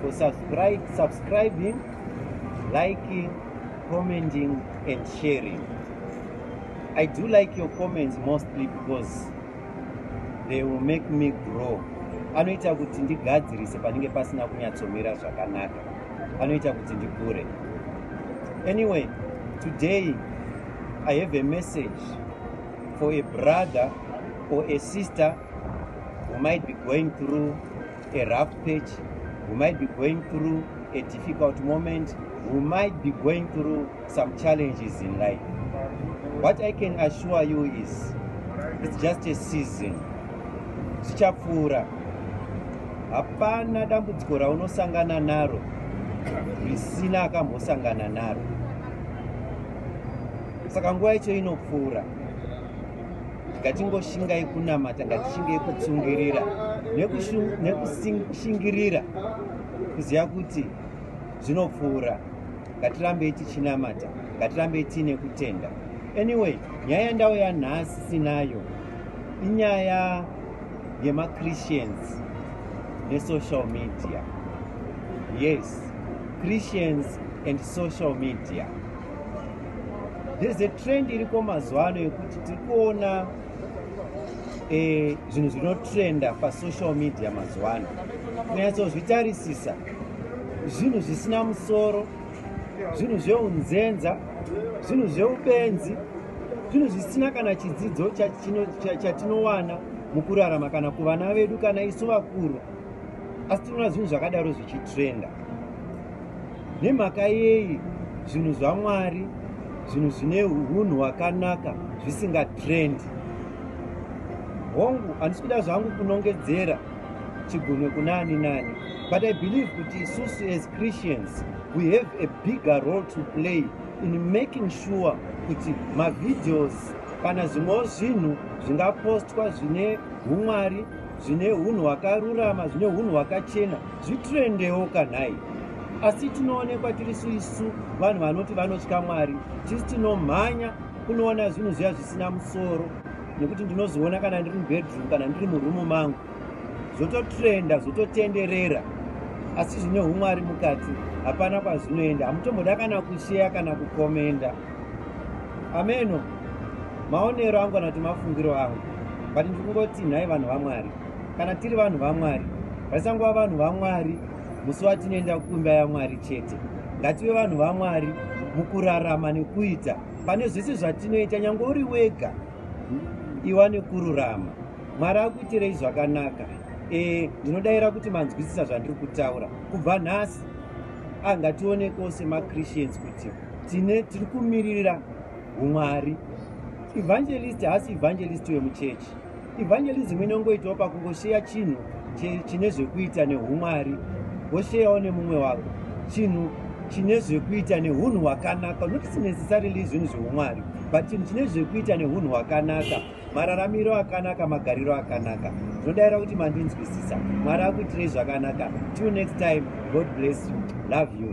for subscribe, subscribing, liking, commenting and sharing. I do like your comments mostly because they will make me grow. Anoita kuti ndigadzirise panenge pasina kunyatsomira zvakanaka. Anoita kuti ndikure. Anyway, today I have a message for a brother or a sister who might be going through a rough patch, we might be going through a difficult moment, we might be going through some challenges in life. What I can assure you is it's just a season. Zvichapfuura. Hapana dambudziko raunosangana naro risina akambosangana naro. Saka nguva yacho inopfuura. ngatingoshingai kunamata ngatishingai kutsungirira nekushingirira kuziva kuti zvinopfuura ngatirambei tichinamata ngatirambei tiine kutenda anyway nyaya yandau yanhasi sinayo inyaya yemachristians nesocial media yes christians and social media there's a trend iriko mazuva ano yekuti tiri kuona eh, zvinhu zvinotrenda pasocial media mazuva ano kunyatsozvitarisisa zvinhu zvisina musoro zvinhu zveunzenza zvinhu zveubenzi zvinhu zvisina kana chidzidzo chatinowana mukurarama kana kuvana vedu kana isu vakuru asi tinoona zvinhu zvakadaro zvichitrenda Nemhaka yei zvinhu zvaMwari, zvinhu zvine hunhu hwakanaka zvisinga trendi? Hongu, handisi kuda zvangu kunongedzera chigunwe kuna ani nani, but I believe kuti isusu as Christians we have a bigger role to play in making sure kuti mavideos kana zvimwewo zvinhu zvingapostwa zvine humwari zvine hunhu hwakarurama zvine hunhu hwakachena zvitrendewo kanhai asi tinoonekwa tiri suisu vanhu vanoti vanotya mwari tisi tinomhanya kunoona zvinhu zviya zvisina musoro nekuti ndinozoona kana ndiri mubedroom kana ndiri murumu mangu zvototrenda zvototenderera asi zvine umwari mukati hapana kwazvinoenda hamutomboda kana kusheya kana kukomenda ameno maonero angu kana kuti mafungiro angu but ndiri kungoti nhai vanhu vamwari kana tiri vanhu vamwari vasangova vanhu vamwari musi watinoenda kumba yamwari chete ngative vanhu vamwari mukurarama nekuita pane zvese zvatinoita nyange uri wega iwa nekururama mwari akuitirei zvakanaka e, ndinodaira kuti manzwisisa zvandiri kutaura kubva nhasi angatione ah, kose machristians kuti tine tiri kumirira umwari evangelist haasi evangelist wemuchechi evangelism inongoitawo pakungosheya chinhu chine zvekuita neumwari wosheyawo nemumwe wako chinhu chine zvekuita neunhu hwakanaka notisi necessarily zvinhu zveumwari but chinhu chine zvekuita neunhu hwakanaka mararamiro akanaka magariro akanaka zvodaira kuti mandinzwisisa mwari akuitirei zvakanaka till next time god bless you love you